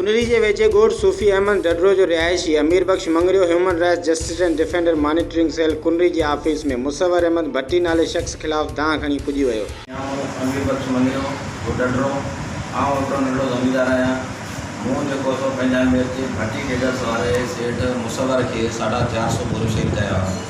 انري جي ويجهي ڳوٺ صوفي احمد ڍڍڙو جو رهائشي Amir Bakhsh Mangrio human rights justice and defender monitoring cell Kunri جي آفيس ۾ مصور احمد ڀٽي نالي شخص خلاف دانهن کڻي پڄي ويو. آئون امير بخش مڱريو، گوٺ ڍڍڙو، آئون هڪڙو ننڍڙو زميندار آهيان. مون جيڪو سو پنهنجا ميرچي ڀٽي ڊيلرز واري سيٺ مصور کي ساڍا چار سؤ بوريون سيل ڪيا هئا.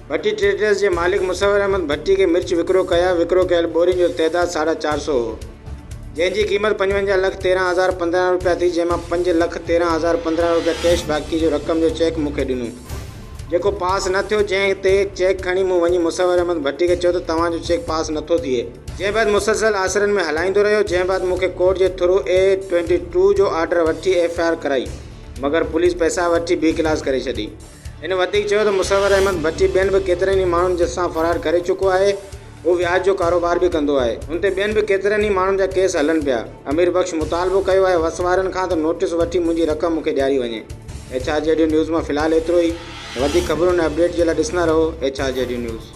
ڀٽي ٽريڊرز جي مالڪ مصور احمد ڀٽي کي مرچ وڪرو ڪيا، وڪرو ڪيل ٻورين جو تعداد ساڍا چار سؤ هو، جنهن جي قيمت پنجونجاهه لک تيرهن هزار پندرهن روپيا ٿي، جنهن مان پنج لک تيرهن هزار پندرهن روپيا ڪيش باقي جو رقم جو چيڪ مون کي ڏنو، جيڪو پاس نه ٿيو، جنهن تي چيڪ کڻي مون وڃي مصور احمد ڀٽي کي چيو ته توهان جو چيڪ پاس نه ٿو ٿئي. جنهن بعد مسلسل آسرن ۾ هلائيندو رهيو، جنهن بعد مون کي ڪورٽ جي ٿرو اي ٽوئنٽي ٽو جو آرڊر وٺي ايف آء آر ڪرائي، مگر پوليس پئسا وٺي بي ڪلاس ڪري ڇڏي. هن وڌيڪ چيو ته مصور احمد ڀٽي ٻين به ڪيترن ئي ماڻهن جي سان فرار ڪري چڪو آهي، هو وياج جو ڪاروبار به ڪندو آهي، هن تي ٻين به ڪيترن ئي ماڻهن جا ڪيس هلن پيا، امير بخش مطالبو ڪيو آهي وس وارن کان ته نوٽيس وٺي منهنجي رقم مون کي ڏياري وڃي. ايڇ آر جي ڊيو نيوز مان في الحال ايترو ئي، وڌيڪ خبرون ۽ اپڊيٽ جي لاء ڏسندا رهو ايڇ آر جي ڊيو نيوز.